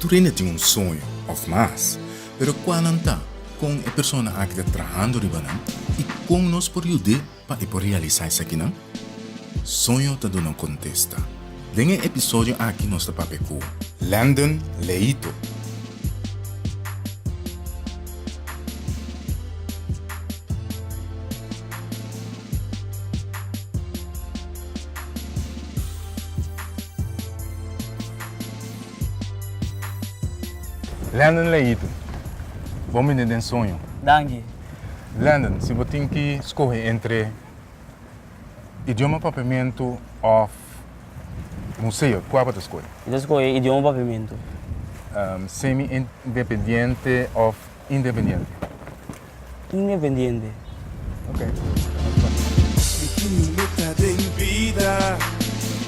Tur hende tin un soño òf mas, pero kua nan ta? Kon e persona aki ta trahando riba nan i kon nos por yud'é? Pa e por realisá esakinan, soño ta duna un kontesta. Den e episodio aki nos ta papia ku Landon Leito. Landon Leito, bon bini den Soño! Danki. Landon, si bo tin ki skohe entre idioma papiamentu òf museo, kua bo ta skohe? Mi ta skohe idioma papiamentu. Semi-independiente òf independiente? Independiente. Ok.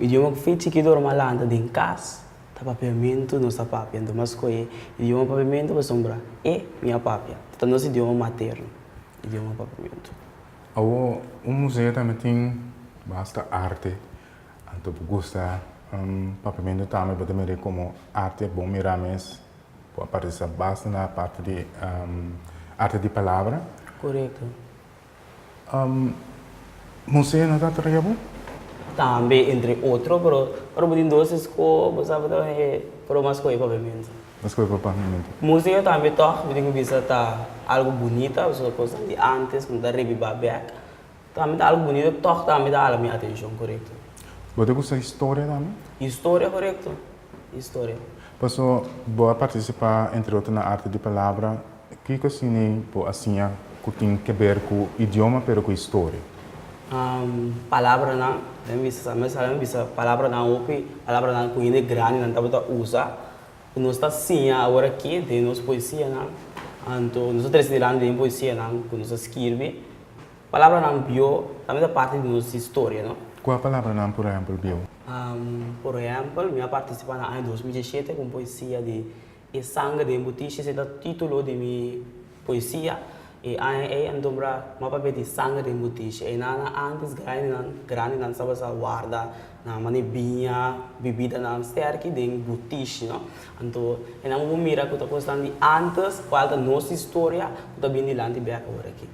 Idioma ku fin chikito ora malanta den kas ta papiamentu, nos ta papia. Anto mas skohe e idioma papiamentu pasobra e mi a papia. Ta nos idioma materno, idioma papiamentu. Awor, un museo tambe tin basta arte. Anto bo gusta papiamentu tambe bo ta mira e komo arte a bon mira mes. Bo a partisipá basta na e parti di arte di palabra. Korekto. Bo sé no ta traia bo? Tambe entre otro, pero ora bo tin dos esko bo sa bo ta kos e ora mas skohe papiamento. Bo skohe pa papiamento. Musika tambe tòg bo tin ku bisa ta algo bunita pasobra kosnan di antes ku no ta rebiba bèk tambe ta algo bunita tòg tambe ta hala mi atenshon korekto. Bo ta gusta historia tambe? Historia korekto historia. Paso bo a partisipá entre otro na arte di palabra. Kiko siña bo a siña ku tin ke ber ku idioma pero ku historia? Palabranan, mi a bisa sa, mi a sabi bisa palabranan, hopi palabranan ku hende grandi nan tabata usa ku nos ta siña awor aki den nos poesianan. Anto nos ta trese dilanti den poesianan ku nos a skirbi. Palabranan bieu tambe ta parti di nos historia, no. Kua palabranan por ehèmpel bieu? Por ehèmpel, mi a partisipá na aña dos mil diesete ku un poesia di. E sanger den bu tishi se ta titulo di mi poesia. E aña ei a nombra ma papia di sanger den bu tishi. Einan na antes grandinan grandinan sa basa warda nan mane biña, bibidanan sterki den bu tishi no. Anto e nan ku bo mira ku ta kosnan di antes kual ta nos historia ku ta bini dilanti bek awor aki.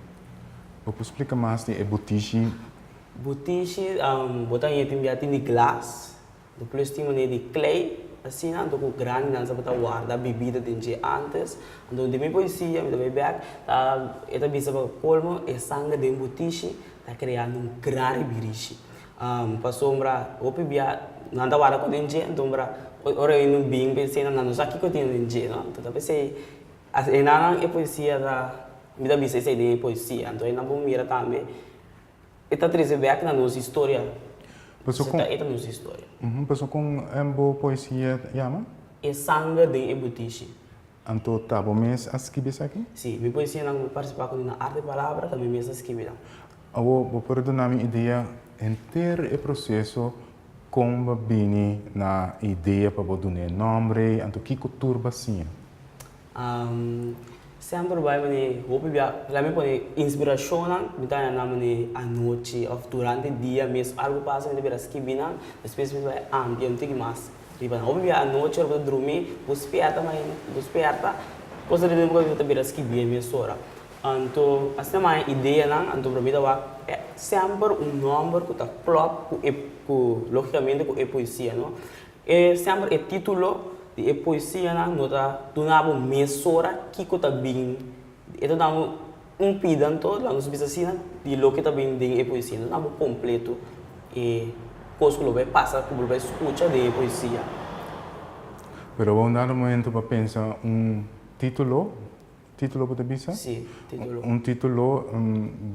Bo por splika mas di e bu tishi? Bu tishi bo ta yete bia tin di glas, Lo plus tin manera di klei, asina anto ku grandi nan sa ta warda bibida den dje antes. Anto di mi por disiña, mi ta bay bèk, ta, e ta bisa pa kolmo e sanga den bo tishi ta kreando un gran ribirishi. Pasobra hopi bia nan ta warda kos den dje, anto mira, ora e no bin p'e sena nan no sa kiko tin den dje, no? Anto ta p'esei, asinanan e poesia ta, mi ta bisa esei den e poesia. Anto ayina bo mira tambe. E ta trece bek na nos historia. Paso con. E ta nos historia. Uhumm, paso con en bo poesia yama? E sanger den e butishi. Anto ta bo mes a skibi esaki? Si, mi poesianan mi participa con e na Arte Palabra ta mi mes a skibi nan. Awo bo por duna mi idea henter e proceso con bo bini na e idea pa bo dun'e nombre, anto kico tur b'hacia? Semper bai manera e hopi bia, la mi pone inspirashonnan, mi ta haña nan manera anochi òf durante dia mes algu pasa mi ta bira skibi nan, despues mi bai ampia un tiki mas riba nan. Hopi bia anochi ora bo ta drumi, bo spièrta mai, bo spièrta, kosa riba nan bo tabata bira skibi e mes ora. Anto asina mi a haña ideanan, anto para mi ta wak e semper un nòmber ku ta klòp ku e, ku lógikamente ku e poesia, no. E semper e titulo di e poesianan no ta duna bo mesora kiko ta bin, e ta dabo un pidanto, la nos bisa asina, di loke ta bin den e poesia. No ta dabo kompleto e kos ku lo bai pasa, ku lo bai skucha den e poesia. Pero unda lo momento pa pensa un titulo Titulo bo ta bisa? Sí, titulo. Un titulo,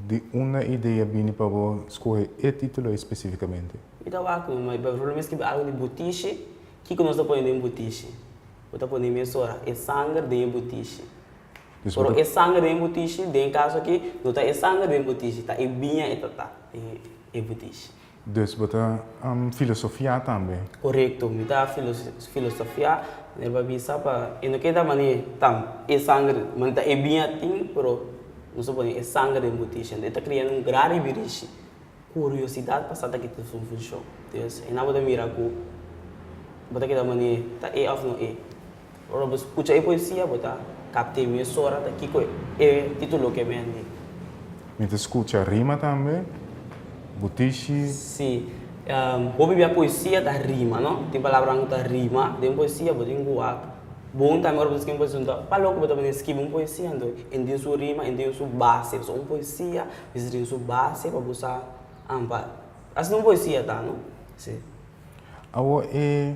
di unda idea bini pa bo skohe e titulo ei spesifikamente? Mi ta wak no, ma por ejemplo mi a skirbi algu di butishi, kiko nos ta pone den butishi? Bo ta pone mesora, e sanger den e butishi. Dus bo ta. Pero e sanger den e butishi, den e kaso aki, no ta e sanger den e butishi, ta e biña e ta ta den e butishi. Dus bo ta filosofiá tambe? Korekto, mi ta filosofiá. Mi a bisa pa e no ke ta manera ta e sanger, manera ta e biña tin, pero nos a pone e sanger den butishi. Anto e ta krea un gran ribirishi. Kuriosidat pa sa ta kita su funshon. Entonces, e nan bo ta mira ku bo ta keda manera ta e òf no e. Ora bo scucha e poesia bo ta capte mesora ta kico e titulo ke bendi. Mi ta scucha rima tambe, bo tishi. Si, bo bibia poesia ta rima no, tin palabranan cu ta rima den poesia, bo tin cu wak bon tambe ora bo ta scribi un poesia tin cu palo cu bo ta bini scribi un poesia anto en tin su rima en tin su base pasobra un poesia mester tin su base pa bo sa pa asina un poesia ta no si. Awor e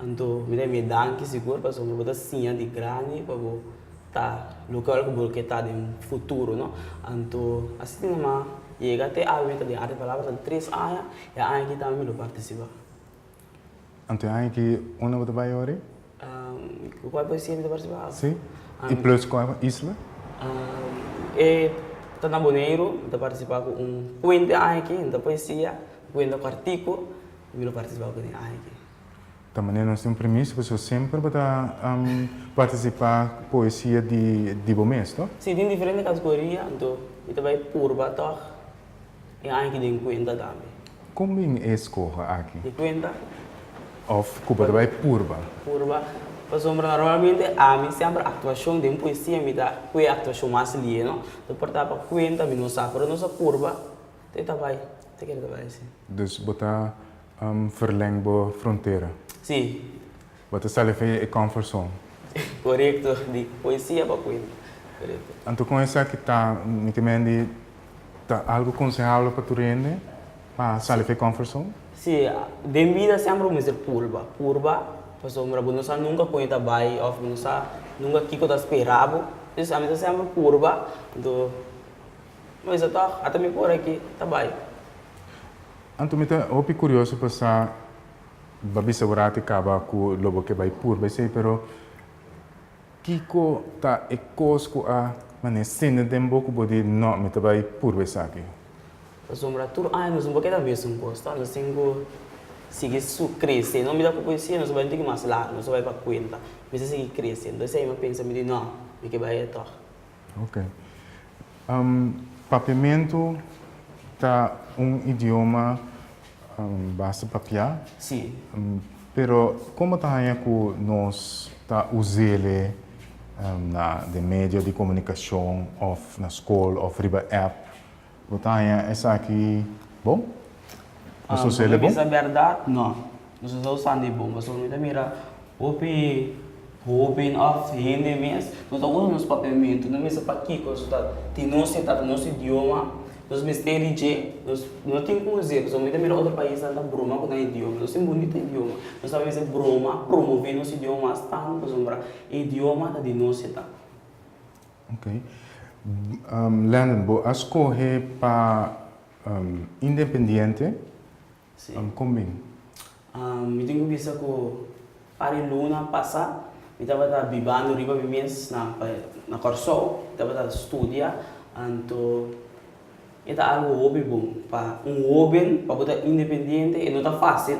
Anto mi ta mi danki sigur pasobra bo ta siña di grandi pa bo ta loke ku bo lo ke ta den futuro, no. Anto asina nomá yega te awe mi ta den Arte Palabra na tres aña, e aña aki tambe mi lo partisipá. Anto e aña aki unda bo ta bai ora? Ku kual poesia mi ta partisipá? Sí, i plus kual isla? E ta na Boneiru, mi ta partisipá ku un kuenta e aña aki, no ta poesia, kuenta kòrtiku. Ta manera nos tin un premisa pa su semper bo ta participa poesia di bo mes to? Si tin diferente categoria anto mi ta bay purba tog e aña aki den cuenta tambe. Con bin e escoge aki? Di cuenta. Of cu bo ta bay purba? Purba pasobra normalmente ami semper actuacion den poesia mi ta cu e actuacion mas lie no ta porta pa cuenta mi no sa pero nos a purba. Te ta bai, te kere ta bai, si. Dus bo ta verleng bo frontera. Si. Bo ta sali fin e comfort zone. Corecto, di poesia pa cuenta. Corecto. Anto con esaki ta, mi ta mende di ta algo consehable pa tur hende pa sali fin e comfort zone? Si, den bida semper bo mester purba, purba, pasobra bo no sa nunca con e ta bai of bo no sa nunca kico ta spera bo, dus ami ta semper purba, anto. Nos a tòg, ata mi por aki ta bai. Anto mi ta hopi kurioso pa sa ba bisa bo rati kaba ku lo bo ke bai pur bai sei, pero kiko ta e kos ku a manesende den bo ku bo di nò mi ta bai pur bai esaki? Pasobra tur aña nos no por keda mesun kos, ta nos tin ku sigui krese. Nò mi ta kokoye si e nos a bai un tiki mas largu, nos a bai pa kuenta, mi sa sigui krese. Entonces, ahí mi a pensa, mi di nò, mi ke bai e tòg. Ok. Papiamentu ta un idioma basta papiá. Sí. Pero como ta haña cu nos ta uz'ele na den medio di comunicacion of na scol of riba app? Bo ta haña esaki bon? Bo so sele bon? Bisa bèrdat, no. Mi so sa usando e bon, pasobra mi ta mira hopi hóben òf hende mes ku ta usa nos papiamentu, no mester pakiko su ta tin nos e tata nos idioma. Nos mester di dje. Nos no tin ku hasi, pasobra mi ta mira otro paisnan ta broma ku nan idioma. Nos tin bunita idioma. Nos a mester broma, promové nos idioma mas tantu, pasobra e idioma ta di nos e tata. Ok. Landon, bo a scoge pa independiente. Sí. Con bin? Mi tin cu bisa cu par e luna pasa, mi tabata bibando riba mi mes na na Corsou, mi tabata studia, anto e ta algo hopi bon. Pa un hoben pa bo ta independiente e no ta facil.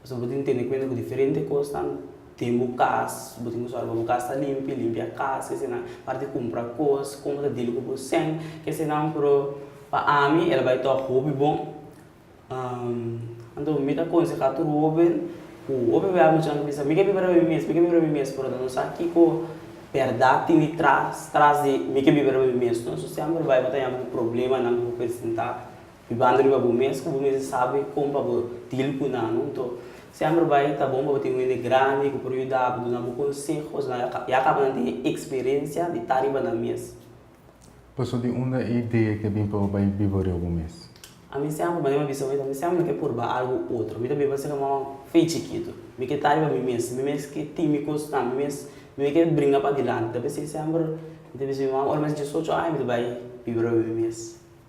Pasobra bo tin ku tene kuenta ku diferente kosnan den bo kas, bo tin ku sòru pa bo kas ta limpi, limpia kas, kesenan parti kumpra kos, komo ta dili ku bo sèn, kesenan. Pero pa ami el a bai tòg hopi bon. Anto mi ta konsehá tur hoben ku hopi bia amuchan ta bisa, mi ke biba riba mi mes, mi ke biba riba mi mes, pero nan no sa kiko bèrdat tin di tras tras di mi ke biba riba mi mes. Entonces sièmper bai bo ta yama ku problemanan ku bo presentá. Ribanda riba bo mes ku bo mester sabi kon pa bo deal ku nan. Punto. Semper bai ta bon pa bo tin un hende grandi ku por yuda bo, duna bo konsehos. Nan ya kaba nan tin e eksperensia di ta riba nan mes. Paso di unda e idea ke bin pa bo bai biba riba bo mes? Ami semper, manera mi a bisa bo, mi semper na ke purba algu otro. Mi ta biba asina kuma fe chikitu. Mi ke ta riba mi mes. Mi mes ke tin mi kosnan. Mi mes mi ke bringa padilanti. Dapusei semper mi ta bisa mi man ora mi a hasi diesocho aña mi ta bai biba riba mi mes.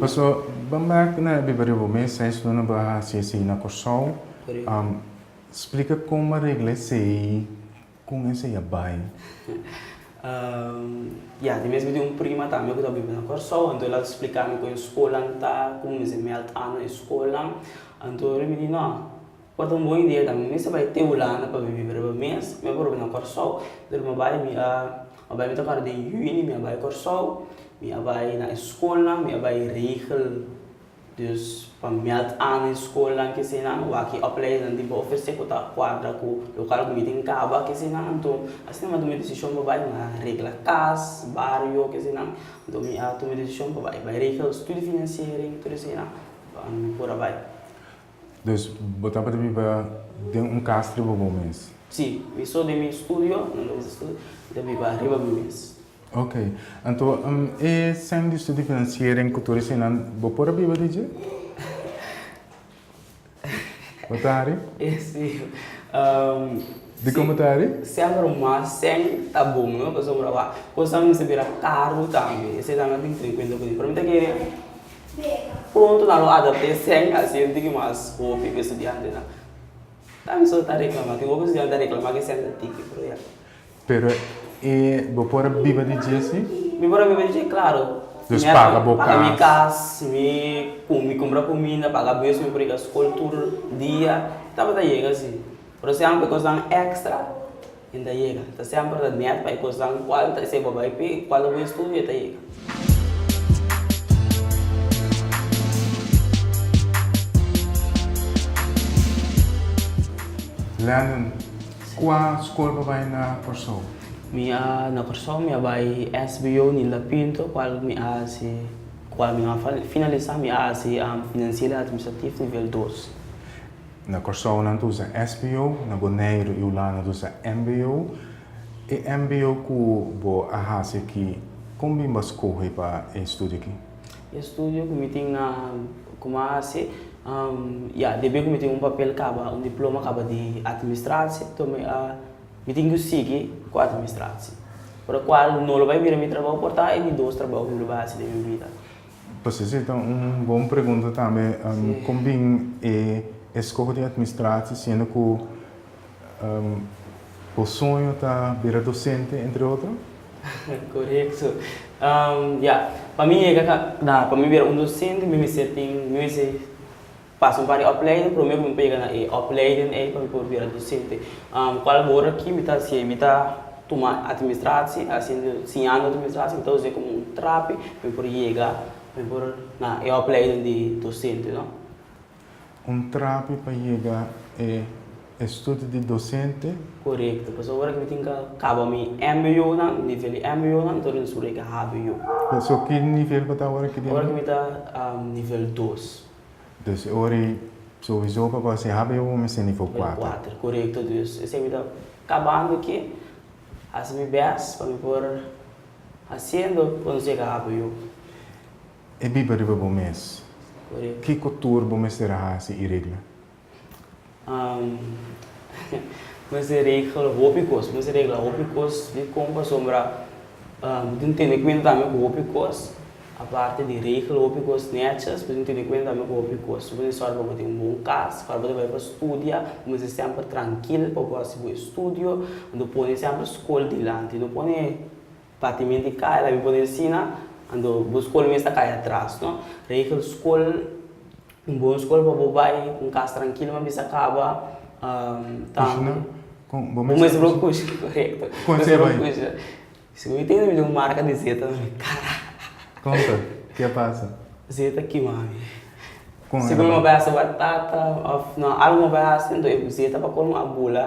Paso bo merk ku nan a biba riba bo mes, esun lo nan por a hasi esei na Kòrsou. Splika kon bo a regla esei, kon esei a bai. Ya, di mes mi tin un prima tambe ku ta biba na Kòrsou, anto el a splika mi kon e skolan ta, komo mi mester melt an na e skolan. Anto mi di, nò, bo ta un bon idea tambe, mi mester bai te hulanda pa mi biba riba mes, mi a por biba na Kòrsou. Anto mi a bai, mi a A bai mi ta para den juni mi a bai Kòrsou, mi a bai na e skolnan, mi a bai regel. Dus pa mèt an e skolnan kesinan, wak opleidingnan tin pa ofresé ku ta kuadra ku lokal ku mi tin kaba kesinan. Anto asina mi a tuma e desishon pa bai, mi a regla kas, bario, kesinan. Anto mi a tuma e desishon pa bai, bai regel studi finansiering, tur eseinan pa mi por a bai. Dus bo tabata biba den un kas riba bo mes? Sí, mi so den mi studio, nan den mi studio, mi ta biba riba mi mes. Ok, anto e sen di usted di financiering cu tur esayinan bo por a biba di dje? Bo ta hari? E sí. Um, Di como ta hari? Semper mas sen ta bon, no? Pasobra, wak, cosnan mester bira caro tambe. Eseinan lo tin cu tin cuenta cu tin. Pero mi ta kere. Pronto nan lo adapté sèn asiente ki mas hopi ku e studiantenan. Ta bisa bo ta reklamá. Tin hopi estudiante ta reklamá ku e sènta tiki, pero ya. Pero e bo por a biba di dje si? Mi por a biba di dje, klaru. Mi a paga bo kas. Paga mi kas, mi mi kumpra kuminda, paga bus mi por yega skol tur dia. Tabata yega si. Pero si bai kosnan èkstra, Tin ta yega. Ta semper ta net pa e kosnan cual ta esey bo bay p'e cual ta cu estudio e ta yega. Landon, cua school bo bay na Corsou? Mi a na Corsou mi a bay SBO Nilda Pinto cual mi a haci cual mi a finalisa mi a haci financiel y administratief nivel dos. Na Kòrsou nan ta usa SBO, na Boneiru i Hulanda ta usa MBO. E MBO ku bo a hasi aki, kon bin bo a skohe pa e studio aki? E studio ku mi tin na ku mi a hasi, ya, debí ku mi tin un papel kaba, un diploma kaba di Atministratie, to mi a, mi tin ku sigui ku Atministratie. Por e kual no lo bai bira mi trabou por ta e di dos trabou ku mi lo bai hasi den mi bida. P'esei si ta un bon pregunta tambe kon bin e eskoho di atmistratie siendo ku bo soño ta bira dosente entre otro? Korekto. Ya, pa mi yega na pa mi bira un dosente mi mester tin mi mester Pasa un par di opleiding promé ku mi por yega na e opleiding ei pa mi por bira dosente. Kual a bor aki mi ta hasi ei? Mi ta tuma atministrasi, hasiendo, siñando atministrasi, mi ta usa ei komo un trapi pa mi por yega, pa mi por na e opleiding di dosente, no? Un trapi pa yega e estudio di dosente? Korekto. Pasobra ora ku mi tin ku kaba mi MBOnan, nivel di MBOnan, mi ta wòrdu un suru ei ku HBO. So ki nivel bo ta ora aki di? Ora aki mi ta nivel dos. Entonces e ora ei sowiso papá sin haba e un mester ni for kuater. Kuater, korekto dus. Esei mi ta kabando aki, hasi mi bes pa mi por hasiendo konsega haba yu. E biba riba bo mes. Korekto. Kiko tur bo mester a hasi i regla? mester regla hopi kos, mester regla hopi kos di kon pasobra bo tin tene kuenta tambe ku hopi kos. Aparte di regla hopi kos netshis, bo tin tene kuenta tambe ku hopi kos. Su mester sòru pa bo tin un bon kas, ora bo ta bai pa studia bo mester semper trankil pa bo hasi bo estudio. No pone semper skol dilanti, no pone Patimenti i kaya la mi por ensina anto bo skol mes ta kaya atras no regel skol un bon skol pa bo bai un kas trankilo ma bisa kaba tambe bo mester a por kushi korekto bo mester a por kushi si mi tin un marka di zeta na mi kara konta ke a pasa zeta kima mi sigur mi a bai hasi batata of no algu mi a bai hasi zeta pa colmo a bula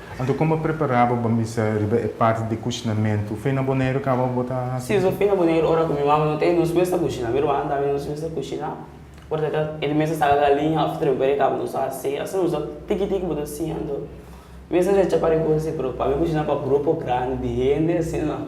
Anto kon bo prepará bo bambisa riba e parti di kuchinamentu? Fe na Boneiru kaba bo ta hasi Si, su fe na Boneiru ora ku mi mama no ta e nos mes ta kuchina. Mi rubanan tambe nos mes ta kuchina. Ora ta e di mester saca galiña òf trempa di e kaba nos ta hasi. Asina nos ta tiki tiki bo ta siña anto mi mester recha pa ricosi pero pa mi kuchina pa grupo grandi di hende asina.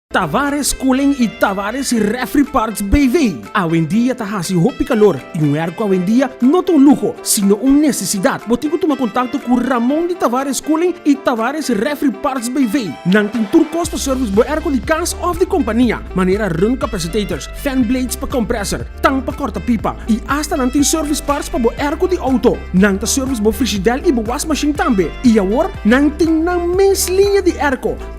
Tavares Koolling y Tavares Refri Parts BV. Awendia ta haci hopi calor y un airco awendia no ta un lujo, sino un necesidad. Bo tin cu tuma contacto cu Ramon di Tavares Koolling y Tavares Refri Parts BV. Nan tin tur cos pa service bo airco di cas of di compania, manera run capacitators, fan blades pa compressor, tang pa corta pipa y hasta nan tin service parts pa bo airco di auto. Nan ta service bo frigidel y bo was machine tambe. Y awor nan tin nan mes liña di airco.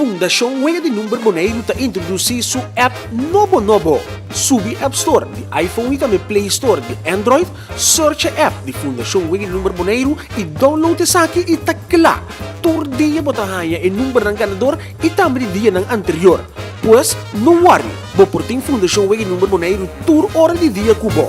Fundashon Wega di Number Boneiru ta introdusí su app nobo nobo! Subi App Store di iPhone i tambe Play Store di Android, searcha app di Fundashon Wega di Number Boneiru i download esaki i ta kla! Tur dia bo ta haña e numbernan ganador i tambe di dianan anterior. Pues, no wòri, bo por tin Fundashon Wega di Number Boneiru tur ora di dia ku bo!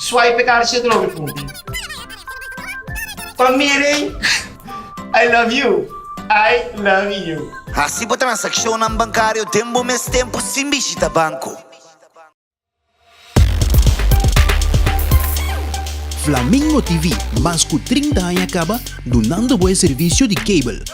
Swipe e kaartje te troke punti. Pa Miri, I love you, I love you. Hasi bo transakshonnan bankario den bo mes tempu sin bishita banko. Flamingo TV, mas ku trinta aña kaba dunando bo e servisio di cable.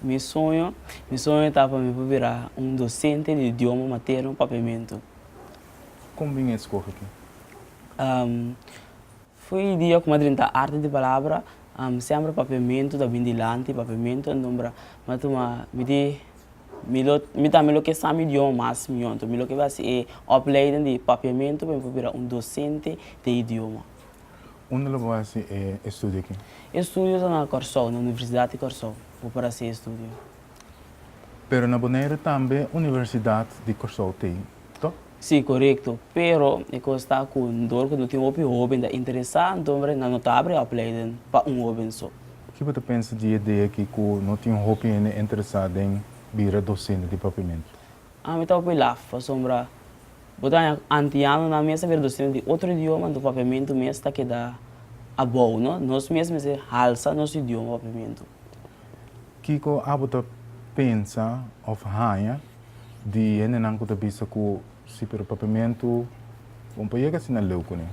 Mi sueño, mi sueño ta pa mi por bira un docente di idioma materno papiamento. Con bin e scoge ki? Foi e dia cu madren ta arte di palabra, semper papiamento ta bin dilanti, papiamento entombra m'a tuma mi di mi lo mi tambe lo ke sa mi idioma mas miyon, mi lo ke haci e opleiding di papiamento pa mi por bira un docente di idioma. Unda lo bo hasi e estudio aki? E estudio ta na Kòrsou, na Universidat di Kòrsou bo por hasi e estudio. Pero na Boneiru tambe Universidat di Kòrsou ta ei, to? Sí, korekto. Pero e kos ta ku dor ku no tin hopi hóben ta interesá, anto bra nan no ta abri e opleiden pa un hóben so. Ki bo ta pensa di e idea aki ku no tin hopi hende interesá den bira dosente di propiamentu? Ami ta hopi laf, pasobra bo ta haña antianonan mes a bira docena di otro idioma, anto papiamentu mes ta keda abou, no? Nos mes mester halsa nos idioma papiamentu. Kiko abo ta pensa of haña di hendenan ku ta bisa ku si pero papiamentu bon pa yega asina leu kuné?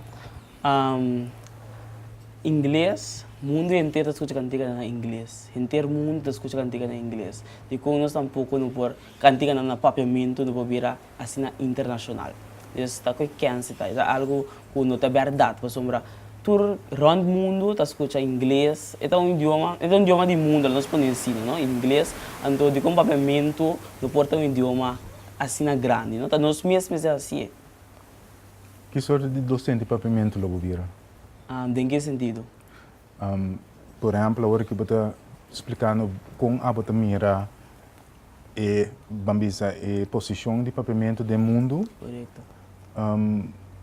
Ingles, mundu henter ta skucha kantika na ingles. Henter mundu ta skucha kantika na ingles. Dikon nos tampoco no por Kantiganan na papiamentu no por bira asina internashonal. Dus ta ku e kense ta. Esa algu ku no ta bèrdat pasobra tur rònt mundu ta skucha ingles. E ta un idioma, e ta un idioma di mundu, la nos pone asina, no? Ingles. Anto dikon papiamentu no por ta un idioma asina grandi, no? Ta nos mes mester hasi e. Ki sorti di dosente papiamentu lo bo bira? Den ki sentido? Por ehempel awor aki bo ta splikando kon abo ta mira e ban bisa e posishon di papiamentu den mundu.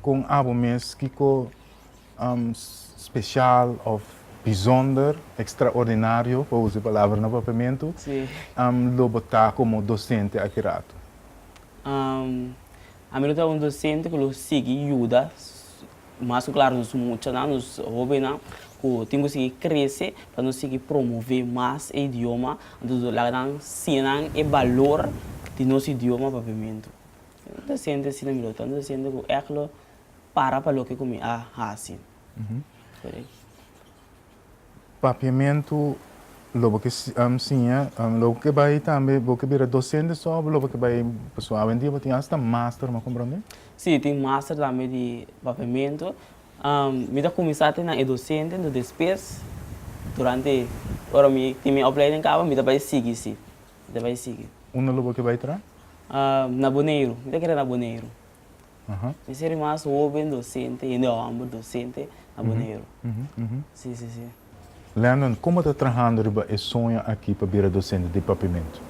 Kon abo mes kiko speshal òf bizonder, ekstraordinario pa usa e palabra na papiamentu lo bo ta komo dosente aki ratu? Ami lo ta un dosente ku lo sigui yuda Mas ku klar nos muchanan, nos hóbennan ku tin ku sigui krese pa nos sigui promové mas e idioma. Anto nos laga nan siña nan e balor di nos idioma papiamentu. Mi ta sinti asina mi lo ta. Mi ta sinti ku èk lo para pa loke ku mi a hasi. Papiamentu lo bo ke siña, lo bo ke bai tambe, bo ke bira dosente so o bo lo bo ke bai pasobra awendia bo tin asta master, mi a komprende? Si, tin master tambe di papiamentu. Mi ta kuminsá te nan e dosente, entos despues durante ora mi tin mi opleiding kaba mi ta bai sigui, si, mi ta bai sigui. Unda lo bo ke bai traha? Na Boneiru, mi ta kere na Boneiru. Mi ser di mas hoben docente, hende homber docente na Boneiru. Si, si, si. Landon, como ta trahando riba e soño aki pa bira docente di Papimentu?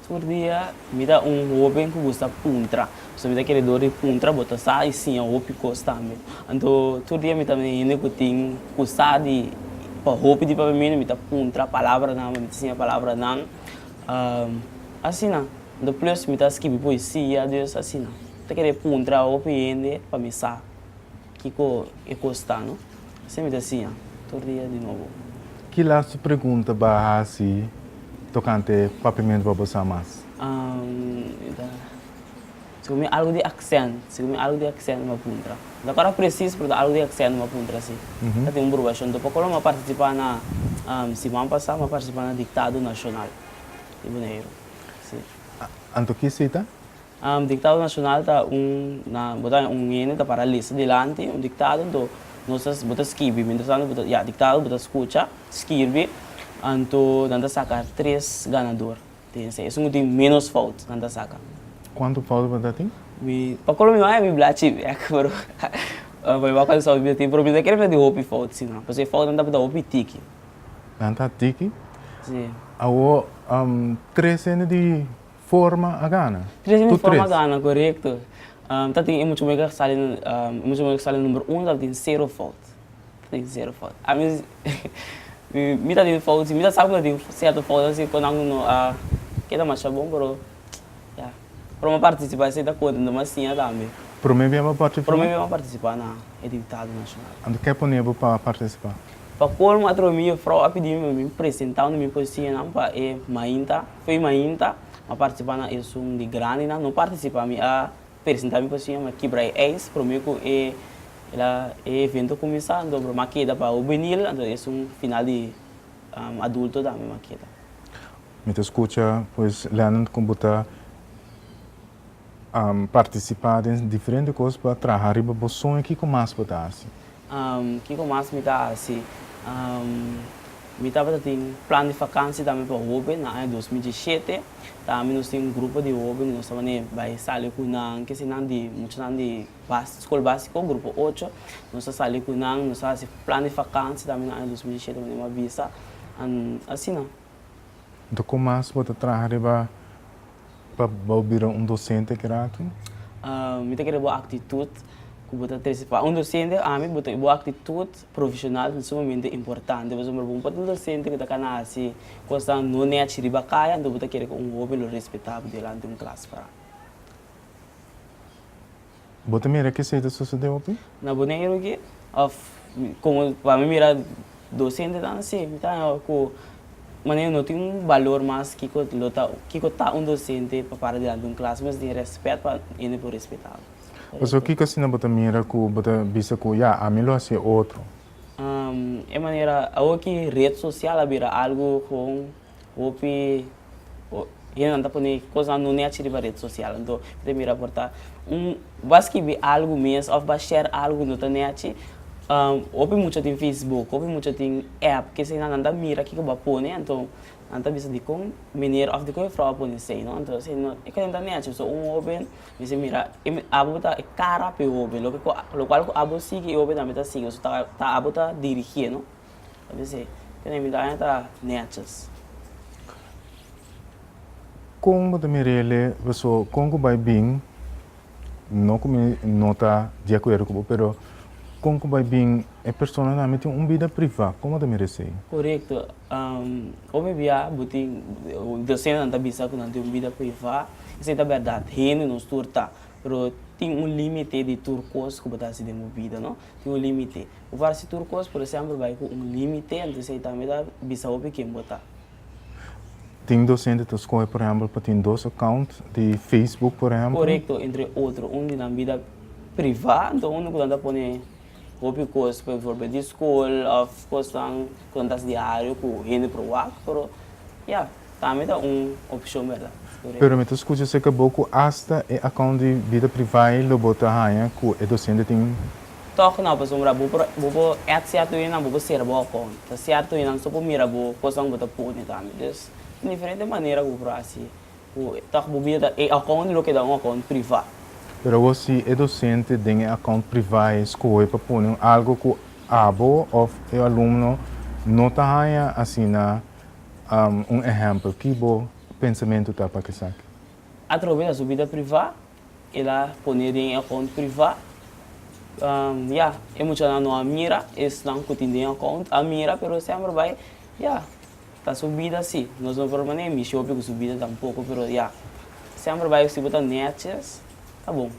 Tur dia mi ta un hoben cu gusta puntra. Pasobra mi ta keredor di puntra, bo ta sa y siña hopi cos tambe. Anto, tur dia mi ta na hende cu tin cu sa di, pa hopi di Papimentu mi ta puntra palabranan, mi ta siña palabranan. Asina. Ento plus mi ta skibi poesia dus asina. Mi ta kere puntra hopi hende pa mi sa kiko e kos ta no. Asina mi ta siña tur dia di nobo. Kilas su pregunta bo a hasi tokante papimentu pa bo sa mas? Mi ta sigur mi algu di aksènt, sigur mi algu di aksènt mi a puntra. Mi ta akorda presis pero ta algu di aksènt mi a puntra si. Mi ta tene un burbashon tur pokola mi a partisipá na siman pasá mi a partisipá na diktado nashonal di Boneiru. Sí. Anto ki sita? Um diktado nashonal ta un, na, bo ta un hende ta para lista dilanti, un diktado, anto nos ta, bo ta skibi, mientras tanto bo ta, ya, diktado, bo ta skucha, skirbi, anto nan ta saka tres ganador den esei. Esei ku tin ménos fout nan ta saka. Kuantu fout bo ta tin? Mi, pa kolo mi wak e mi blachi bèk, pero pa mi wak kuantu fout mi ta tin, pero mi no ta kere fla di hopi fout, si no, pasobra e foutnan ta hopi tiki. Nan ta tiki. Sí. Awo um, tres hende di forma a gana. Tres hende di forma a gana, correcto. Um, ta tin e mucho mega sali, um, e mucho mega sali number uno, ta tin zero fout. Ta tin zero fout. A mi, mi, mi ta tin fout, si mi ta sabi cu ta tin cierto fout, ta si cu nan cu no a keda masha bon, pero, ya. Prome participa esey ta contento mas siña tambe. Prome bia bo participa? Prome bia bo participa na e diputado nacional. Anto ke pone bo pa participa? Pa colmo atrobe mi jufrou a pidi mi pa mi presenta unda mi por siña nan pa e mainta, foi mainta a participa na eleccion di grandi nan no participa mi a presenta mi por siña mi a kibra e ijs prome cu e la e evento cuminsa anto broma a keda pa hobenil anto esun final di adulto dame ma keda. Mi ta skucha pues Leonard ku bo ta partisipá den diferente kos pa traha riba bo soño kiko mas bo ta hasi? Kiko mas mi ta hasi? Mi tabata tin plan di fakansia dame pa hoben na aña dos mil diesshete. Tambe nos tin un grupo di hoben ku nos tabata bai sali ku nan, kese nan di mucha nan di Bas, Skol Básiko, Grupo Ocho, nos a sali ku nan, nos a hasi plan di fakansia tambe na aña dos mil i shete manera mi a bisa. An asina. Enton kon mas bo ta traha riba pa bo bira un dosente e rato? Mi ta kere bo aktitut ku bo ta trese. Pa un dosente ami bo aktitut profeshonal ta sumamente importante. Pasobra ora bo un patrón dosente ku ta kana hasi kosnan no nèchi riba kaya, enton bo ta kere ku un hoben lo respetá bo delante un klas. Bo ta mira kesey ta sosode hopi? Na Boneiru aki? Of komo pa mi mira dos hende tan si, mi ta haña ku manera no tin un balor mas kiko lo ta kiko ta un dosente pa para dilanti un klas, mi mester tin rèspèt pa hende por respetabo. Pasobra kiko asina bo ta mira ku bo ta bisa ku ya, ami lo hasié otro? E manera awor ki ret sosial a bira algu gewoon Hopi hendenan ta pone kosnan no nèchi riba ret sosial. Anto mi ta mira por ta un ba skibi algu mes òf ba share algu ku no ta nèchi. Hopi mucha tin facebook, hopi mucha tin app ki eseinan nan ta mira kiko ba pone anto nan ta bisa dikon meneer òf dikon e frou a pone esei no. Anto esei no e kual nan ta nèchi. So un hobe mi si mira abo ta e kara pa e hobe lokual ku abo sigui e hobe tambe ta sigui. So tabatin abo ta dirigié no. ta bis'é, Tene mi daña ta nètjes. Kon bo ta mir'ele? Pasobra kon ku bai bin, no ku mi no ta di akuerdo ku bo, pero kon ku bai bin e personanan ami tin un bida privá, kon bo ta mira esei? Korekto. Omi bia bo tin, dosentenan ta bisa ku nan tin un bida privá, esei ta bèrdat, hende nos tur ta, pero tin un límite di tur kos ku bo ta hasi den bo bida, tin un límite. Bo parse tur kos, pero semper bai ku un límite, antes ei tambe ta bisa hopi ken bo ta. Tin dosente ta skohe por ehèmpel pa tin dos account di Facebook por ehèmpel. Korekto, entre otro. Un di nan bida privá, anto unu ku nan ta pone hopi kos, pa bivoorbeeld di skol òf kosnan ku nan ta hasi diario ku hende por wak, pero ya. Tambe ta un opcion berda. Pero mi ta scucha si ecabo cu hasta e account di bida privae lo bo ta haya cu e docente tin. Toch no aposombra bo por bo por add cierto winan bo por cera bo account ta cierto winan so por mira bo cosnan bo ta pone tambe dus tin diferente manera cu bo por haci cu toch bo bida ta e account lo keda un account priva. Pero awor si e docente den e account privae scohe pa pone un algo cu abo of e alumno no ta haya asina Un ehèmpel, ki bo pensamentu ta pa kesaki? Atrobe ta su bida privá, el a pone den e akount privá. Ya, e muchanan no a mira, esnan ku tin den e akount a mira, pero sèmber bai, ya, ta su bida sí. Nos no por manda e mishi hopi ku su bida tampoko, pero ya, sèmber bai si bo ta nètjes, ta bon.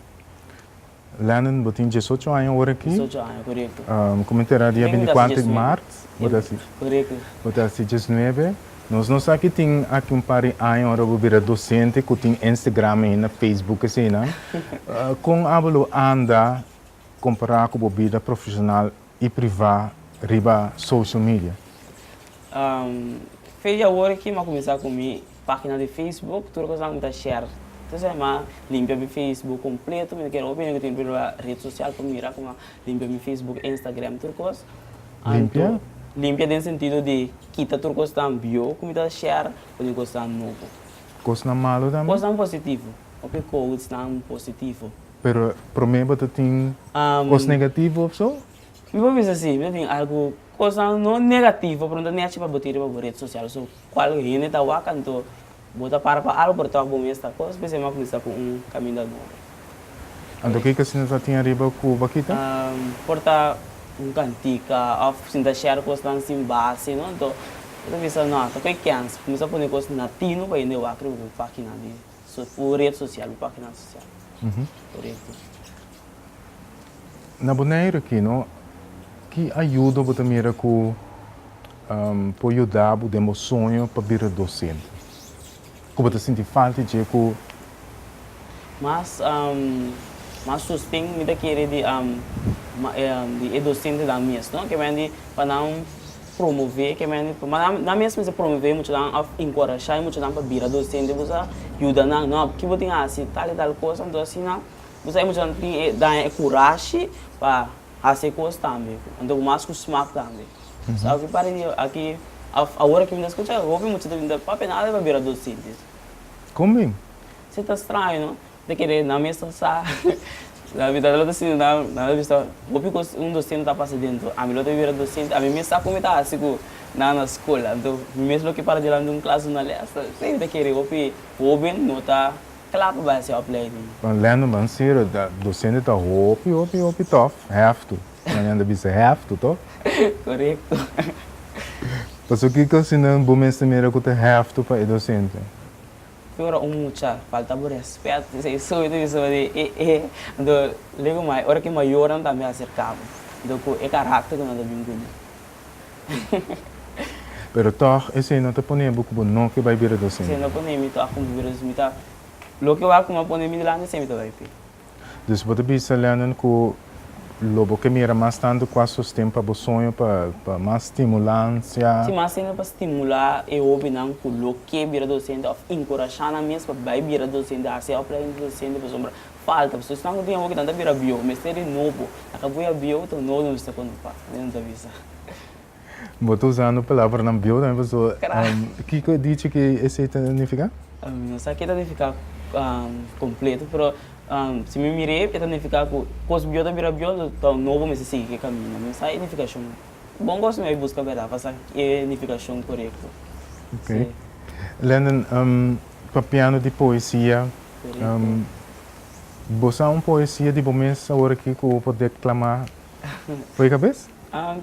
Lennen, bo tin diesocho aña ora aki. Diesocho aña, korekto. Mi komin tera dia bintikwat di mart. Bo ta hasi. Korekto. Bo ta hasi diesnuebe. Nos no sa ki tin aki un par di aña ora bo bira dosente ku tin Instagram ainda, Facebook eseinan. Kon abo lo anda kompará ku bo bida profeshonal y privá riba social media. Fe di awor aki m'a cuminsá cu mi página di Facebook, tur cosnan cu mi ta share. Entonces a m'a limpia mi Facebook completo, mi ta kere hopi hende cu tin riba e red social pa mira cu m'a limpia mi Facebook, Instagram, tur cos. Limpia? Limpia den sentido di kita tur cosnan bio cu mi ta share paden cosnan nobo. Cosnan malu tambe? Cosnan positivo, hopi quotesnan positivo. Pero prome bo ta tin cos negativo of so? Mi por bisa si, mi ta tin algu cosnan no negativo pero no ta nechi pa bo tin riba bo red social so cual hende ta wak anto bo ta para pa algu por ta wak bo mes ta cos p'esei mi a cuminsa cu un caminda nobo. Anto kico asina ta tin ariba cu bo a kita? Por ta un cantica of sinta share cosnan sin base no anto mi ta bisa no ato cu e kens cuminsa pone cos natino pa hende wak riba bo paginan di. Su bu red social, bu pakinan social. Por ejemplo. Na Boneiru aki no, ki ayudo bo ta mira ku por yuda bo den bo soño pa bira dosente? Ku bo ta sinti falta dje ku. Mas mas sosten mi ta kere di di e dosente nan mes no, ke bai di pa nan. Promové ke mende pa ma nan mes mester promové muchanan òf enkorashá e muchanan pa bira dosente ku sa yuda nan. No, aki bo tin hasi tal i tal kos, anto asina ku sa e muchanan tin e daña e kurashi pa hasi e kos tambe, anto ku mas ku smak tambe. So aki pare di aki òf awor aki mi ta skucha hopi mucha ta bira, pape nada di pa bira dosente. Kon bin? Si ta straño no. Te kende nan mester sa la mitat di lo ta sinti nan nan ta bisa hopi cos un docente ta pasa dentro ami lo ta bira docente ami mes sa con mi ta haci cu nan na school anto mi mes lo ke para dilanti di un clas duna les esey mi ta kere hopi hoben no ta cla pa bai haci opleiding. Pan Lendo man sirra ta docente ta hopi hopi hopi tof heftu nan nan ta bisa heftu to. Corecto. Pasobra kico si nan bo mester mira cu ta heftu pa e docente. Ki ora un mucha falta bo rèspèt di seisoe di seisoe di e e anto lego mai ora ki mayornan ta bin aserká bo anto ku e karakter ku nan ta bin bini. Pero tòg esei no ta pone bo ku bo no ke bai bira dos hende. Esei no pone mi tòg ku mi bira dos mi ta loke wak kuma pone mi dilanti esei mi ta bai p'e. Dus bo ta bisa Lennon ku lo bo ke mira mas tantu kua sosten pa bo soño pa pa mas stimulansia. Si mas hende pa stimulá e hóbennan ku lo ke bira dosente òf inkurashá nan mes pa bai bira dosente, hasi e opleiding di dosente pasobra falta pasobra esnan ku tin awo kitan ta bira bieu mester di nobo nan ka bai a bieu ta un nobo nan mester kontrotá, Lennon ta bisa. Bo ta usando palabranan bieu tambe pasobra Kra. Kiko e dichi ku esei ta nifiká? Mi no sa ke ta nifiká kompleto, pero si mi mira e, e ta nifiká ku kos bieu ta bira bieu, tou no bo mester sigui ku e kaminda. Mi no sa e nifikashon. Bon kos mi a buska bèrdat pa sa e nifikashon korekto. Ok. Lenden, papiando di poesia, Korekto. bo sa un poesia di bo mes awor aki ku bo por deklamá pa e kabes?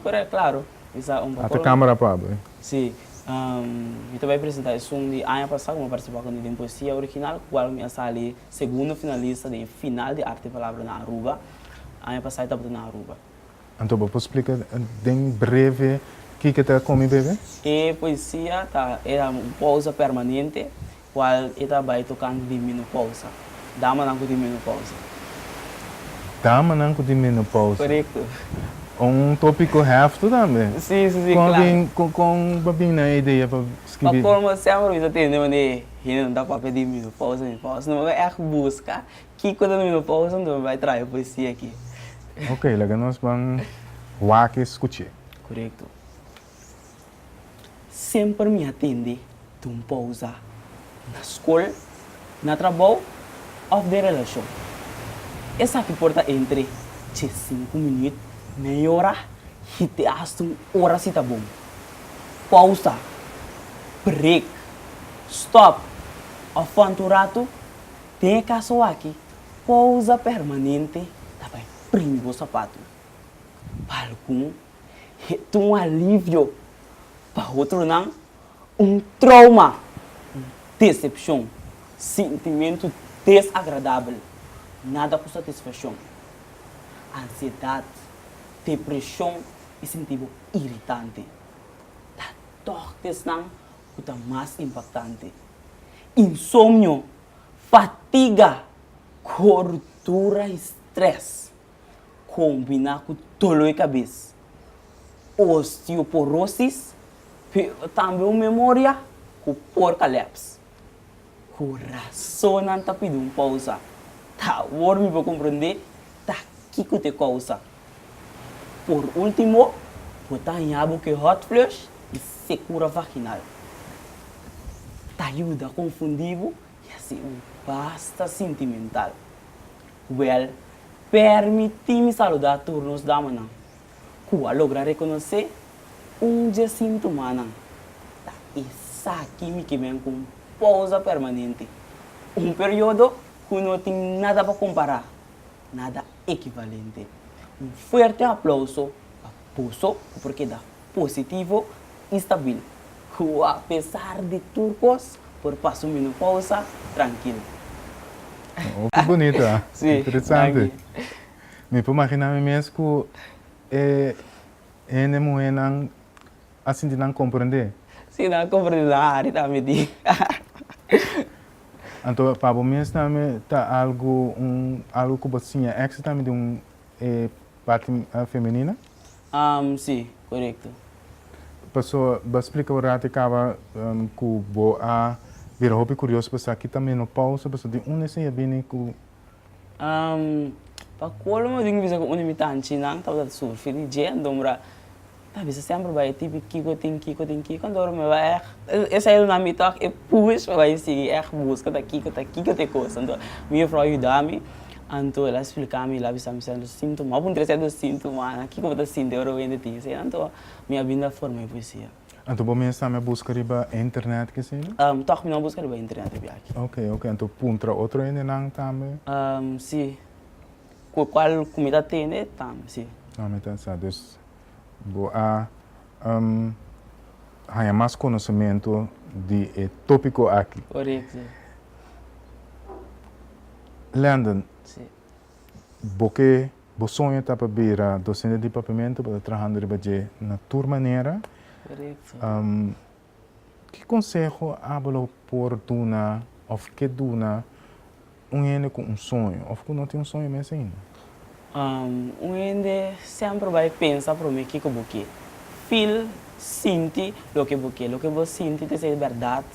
Corect, claro. Mi sa un patrono. Ata camera pa abo, eh? Si. Mi ta bai presenta esun di aña pasa cu mi a participa con e den poesia original cu cual mi a sali segundo finalista den e final di Arte y Palabra na Aruba. Aña pasa e tabata na Aruba. Anto bo por splica den breve kico ta Comi Bebe? E poesia ta era un pausa permanente Cual e ta bay tocante di menopausa, damanan cu tin menopausa. Damanan cu tin menopausa. Corecto. Un topico hefto tambe. Si, si, si, claro. Con a bin, con a bin na e idea pa scribi? Pa colmo semper mi ta tende wanneer e hende ta papia di menopausa, menopausa, no mi ta echt busca kico ta menopausa anto mi bay traha e poesia aki. Ok, laga nos ban wak e scuche. Corecto. Semper mi a tende di un pousa na skol, na trabou òf den relashon. Esaki por ta entre dje sinku minüt, mei ora i te asta un ora si ta bon. Pousa, brek, stòp, òf fònt un ratu, den e kaso aki pousa permanente ta bai primi bo sapatu. Pa algun. Het un alivio, pa hotronan un trouma, un desepshon, sintimentu desagradabel, nada ku satisfakshon, ansiedat, depreshon i sinti bo iritante. Ta tòg desnan ku ta mas impaktante, insomnio, fatiga, kortura i strès. Kombiná ku dolo e kabes, osteoporosis, pero tambe un memoria ku por kaleps. Kurason nan ta pidi un pousa. Ta awor mi por komprendé ta kiko ta e kousa. Por último, bo ta haña bo ku e hot flush i sekura vaginal. Ta yuda konfundí bo. I asi u basta sintimental. Wèl, pèrmití mi saludá tur nos damanan ku a logra rekonosé un dje sin tumánan. Ta esaki mi ke bèn ku un pousa permanente, un periodo ku no tin nada pa kompará nada ekivalente. Un fuerte aplauso pa boso ku por keda positivo i stabil ku apesar di tur kos por pasa un menopausa trankil. Hopi bunito, a? Interesante. Mi por maginá mi mes ku e hende muhénan a sinti nan komprendé? Si nan a komprendé nan hari ta miti. Anto pa bo mes tambe ta algu un algu ku bo siña èksito tambe di un e parti femenina? Am, si, korekto. Pasó bo a splika ora te kaba ku bo a bira hopi kurios pa sa ki ta menopausa, pasó di unda esei a bini ku Pa colmo tin ki bisa cu un di mi tanchi nan tabata ta surfi di dje, anto mira ta bisa semper bai e tipi kiko tin kiko tin kiko anto mira mi bai eich esai lo na mi tok e push pa bai sigui eich busca ta kiko ta kiko ta e cos anto mi juffrouw a yuda mi anto el a explica mi el a bisa mi sey lo sinto man apuntra sey lo sinto man kiko bo ta sinti ora bo hende tin esey anto mi a binda forma e poesia. Anto bo mes tambe a busca riba internet kesina? Um, tog mi no a busca riba internet riba aki. Ok, ok, anto puntra otro hendenan tambe? Um, si, cu cual cu mi ta tende tambe, si. Ah, mi ta sa. Dus bo a um haya mas conocemento di e topico aki. Corect, si. Landon. Si. Bo ke. Bo soño ta pa bira docente di Papiamento, bo ta trahando riba dje na tur manera. Ki conseho abo lo por duna of ke duna un hende cu un soño of cu no tin un soño mes ainda? Un hende semper bay pensa prome kico bo ke feel, sinti loke bo ke. Loke bo sinti ta ser berdad,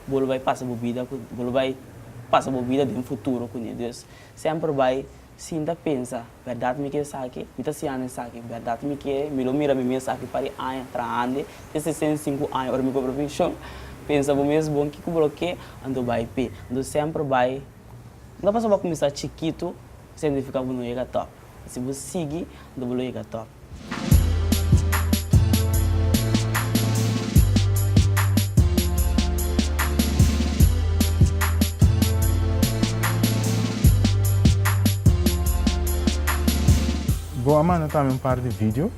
bo lo bay pasa bo bida cu, bo lo bay pasa bo bida den futuro cu ne. Dus semper bay Sin ta pensa, Bèrdat mi ke esaki? Mi ta siña esaki? Bèrdat mi ke? Mi lo mira mi mes aki par e aña, trahandi te sesenta i sinku aña ora mi compra penshon? Pensa bo mes bon kiko bo lo ke, anto bai p'e. Anto semper bai Lo pasa bo a kuminsá chikitu, signifiká bo no yega tòp. Si bo sigui, anto bo lo yega tòp. Bo a manda tambe un par di video?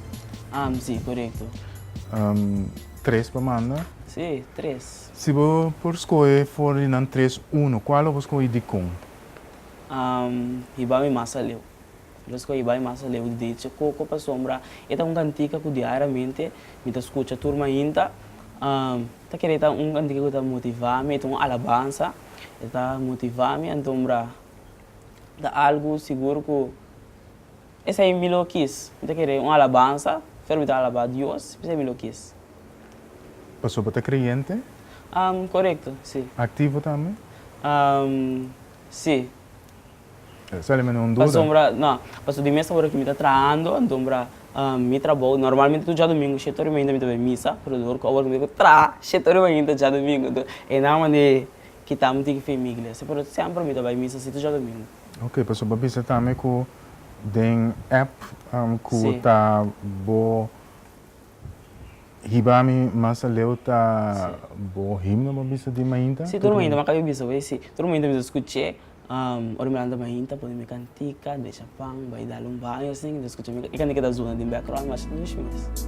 Am, si, korekto. Tres pa manda? Si, tres. Si bo por skohe for di nan tres unu, kual lo bo skohe i dikon? Am, hiba mi mas aliu. Lo escogi bai mas aleu di Deche Coco pa sombra. E ta un cantica cu diariamente mi ta scucha tur mainta. Ta kere ta un cantica cu ta motivami, e ta un alabansa. E ta motivami antombra ta algu sigur cu esei mi lo kiss. Mi ta kere un alabansa pero mi ta alaba Dios p'esei mi lo kiss. Paso bo ta creyente? Corecto, si. Activo tambe? Si. Pasobra, no, pasobra di mes ora ku mi ta trahando, anto pasobra mi trabou, normalmente tur djadumingu shete ora i mainta mi ta bai misa, pero dor ku awor ku mi bai ku traha, shete ora i mainta djadumingu. Enton, e nan manda e kitammi tin famiglia. Si, pero semper mi ta bai misa si tur djadumingu. Oke, pasobra bo a bisa tambe ku den app ku ta bo. Hiba mi mas aleu ta bo himno bo bisa di mainta? Si, tur mainta, mi a kabi bisa bo e si. Tur mainta mi ta skuch'é, ora mi lanta mainta pone mi kantika, desha pan, bai dal un baño asina, mi ta skuch'é e kantika ta zona den background mi a haci dushi mes.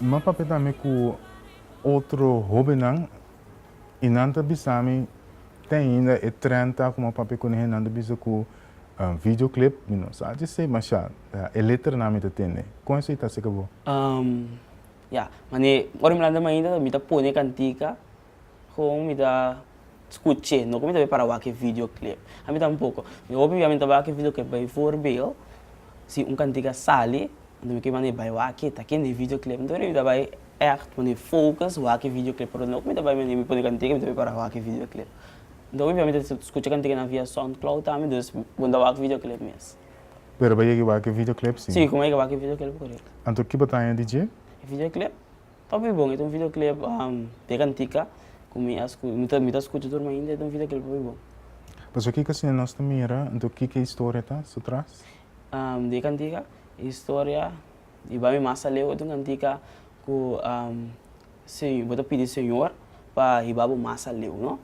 M'en papia tambe ku otro hóbennan i nan ta bisa mi te ainda e trenta ku m'en papia ku nehen nan ta bisa ku videoclip mi no sa dise mashá, e letranan mi ta tende. Kon esei ta seka bo? Ya, mane ora mi lanta mainta mi ta pone kantika Kon mi ta skuch'é? No ku mi ta bai para wak e videoclip. A mi tampoko. Mi hopi bia mi ta wak e videoclip bai voorbeel si un kantika sali, anto mi ke mane bai waki, ta kende e videoclip. Anto mi ta bai ègt pone focus wak e videoclip. Pero no ku mi ta bai mane mi pone kantika mi ta bai para wak e videoclip. Mi hopi bia mi ta skucha kantikanan via soundcloud tambe, dus bo mi ta wak videoclip mes. Pero bai yega wak e videoclip si? Si, ku mi a yega wak e videoclip korekto. Anto kiba ta haña di dje? E videoclip. Papi bon e ta un videoclip de cantica cu mi a scucha mi ta scucha tur mainta e ta un videoclip papi bon. Pasobra kico asina nos ta mira enton kico e historia ta su tras? Di e cantica e historia di Bami Mas Aleu e ta un cantica cu bo ta pidi señor pa hiba bo mas aleu no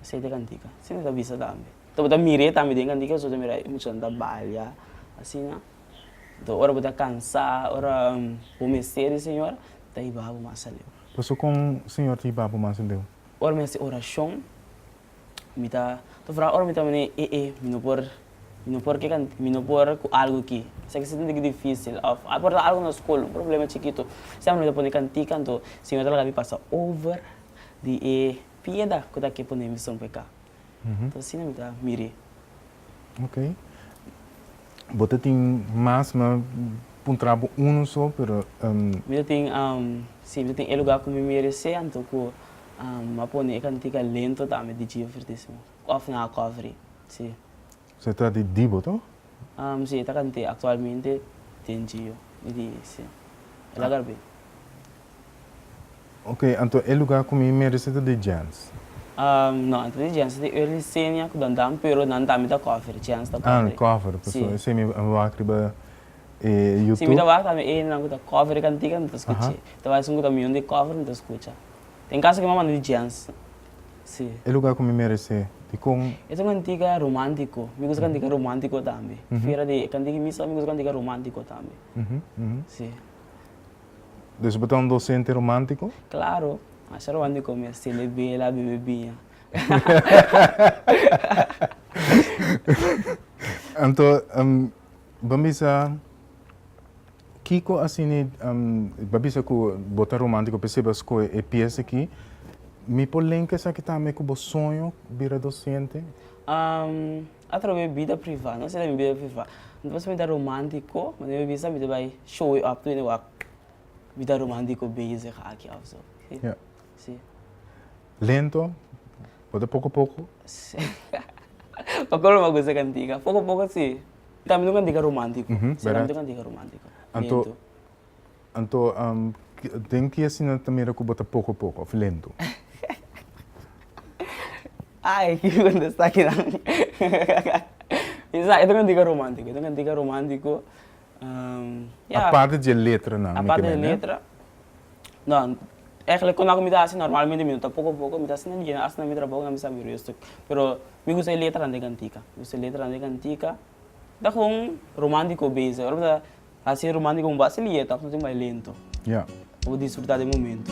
esei ta e cantica asina e ta bisa tambe ta bo ta mire tambe den cantica bo ta mira muchanan ta balia asina Nto ora bo ta kansá, ora bo mester di Señor, ta hiba bo mas aleu. Paso kon Señor ta hiba bo mas aleu? Ora mi hasi orashon, mi ta ta fraha ora mi ta manera e e mi no por mi no por ke kan mi no por ku algu aki. Esaki sinti di ki difísil òf a por ta algu na skol, un problema chikitu. Sèmpel mi ta pone kantika anto Señor ta laga mi pasa over di e pieda ku ta ke ponemi sumpe ka. Ta asina mi ta mir'é. Ok. Bo ta tin mas, mi a puntra bo unu so, pero. Mi ta tin, si, mi ta tin e lugá ku mi meresé, anto ku mi a pone e kantika lento tambe di Gio Vertísimo, òf na Akòvri. Si. Se trata di Dibo to? Si, e ta kant'é. Aktualmente tin Gio i Lies, si. E laga Arbey. Ok, anto e lugá ku mi merece ta di Jens? No, e ta di Jens. E ta di Early Xenia ku Dandan, pero nan tambe ta cover. Jens ta cover. Ah, cover. Paso esei mi a wak riba e YouTube. Si, mi ta wak tambe enan ku ta cover e kantika, mi ta skuch'é. Mi ta wak esun ku ta mion di cover, mi ta skucha. Tin kaso ku mi a manda di Jens. Sí. E lugar cu mi merece, dicon? E ta un cantica romantico. Mi gusta cantica romantico tambe. Fiera di e cantica di misa, mi gusta cantica romantico tambe. Sí. Dus bo ta un docente romantico? Claro. Masha romantico mi a stende bela, bebe biña. Anto, bo a bisa. Kiko asini bo a bisa ku bo ta romántico p'esei bo a skohe e pies aki? Mi por linka esaki tambe ku bo soño bira dosiente? Atreve mi bida privá, no esei ta mi bida privá. No ta pasobra mi ta romántiko, ma den mi bisa mi ta bai show yu ap tur hende wak mi ta romántiko bezig aki òf so. Si. Lento? Bo ta poko poko? Pacolmo a kusa kantiga. Poko poko si. Tambe lo mi a dega romántiko. Serambe lo mi a dega romántiko. Anto, anto, den ki asina ta mira ku bo ta poko poko òf lento? Ai, ki kontestá kinan? Esaki ta mi a dega romántiko, ta mi a dega romántiko, ya. Aparte dje letranan, mi ke mende. Aparte dje letra, No, eigenlijk kon a ku mi ta hasi normalmente mi no ta poko poko, mi ta hasi nan dje, hasta na mi trabou nan mi sa birio stuk. Pero mi gusta e letranan di kantika, mi gusta e letranan di kantika, ta hon romantiko bes, ora ku ta hasi romantiko bo a hasi liet òf natin bai lento, bo disfruta den momento.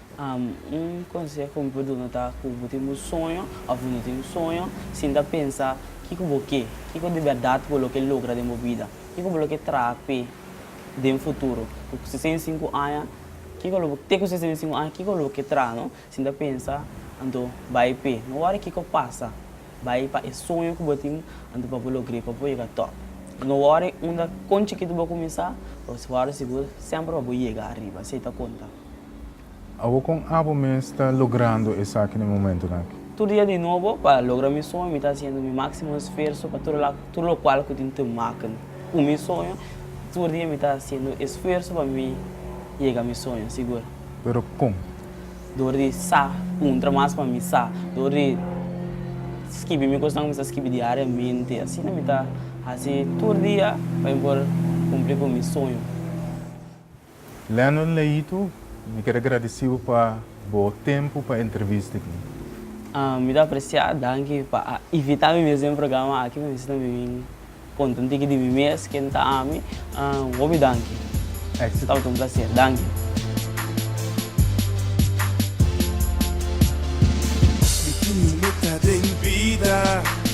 Un konseho mi por dun'o ta ku bo tin bo soño òf bo no tin soño, sinta a pensa kiko bo ke, kiko di bèrdat bo lo ke logra den bo bida, kiko bo lo ke traha p'e den futuro. Ku sesenta i sinku aña, kiko lo bo te ku sesenta i sinku aña kiko lo bo ke traha no? Sinta a pensa, anto bai p'e. No wòrdu kiko pasa, bai pa e soño ku bo tin anto pa bo logr'e, pa bo yega tòp. No wòrdu unda, kon chikitu bo kuminsá, bo wòrdu sigur semper pa bo yega ariba, así oi ta konta. Awo kon abo mes ta logrando esaki na e momentonan aki? Tur dia di nobo, pa logra mi soño mi ta hasiendo mi máksimo esfuerso pa tur la tur lokual ku tin te makna ku mi soño. Tur dia mi ta hasiendo esfuerso pa mi yega mi soño, sigur. Pero kon? Dor di sa puntra mas pa mi sa, dor di skibi mi kosnan ku mi sa skibi diariamente. Asina mi ta hasi tur dia pa mi por kumpli ku mi soño. Leonel Leito, mi keda gradisí bo pa bo tempu pa entrevista aki. Mi ta apresiá. Danki pa a invitá mi mes den programa aki pa mi esei tambe bin konta un tiki di mi mes, ken ta ami. Un hopi danki. Éxito. Tabata un plaser. Danki. Mi tiene un meta den bida.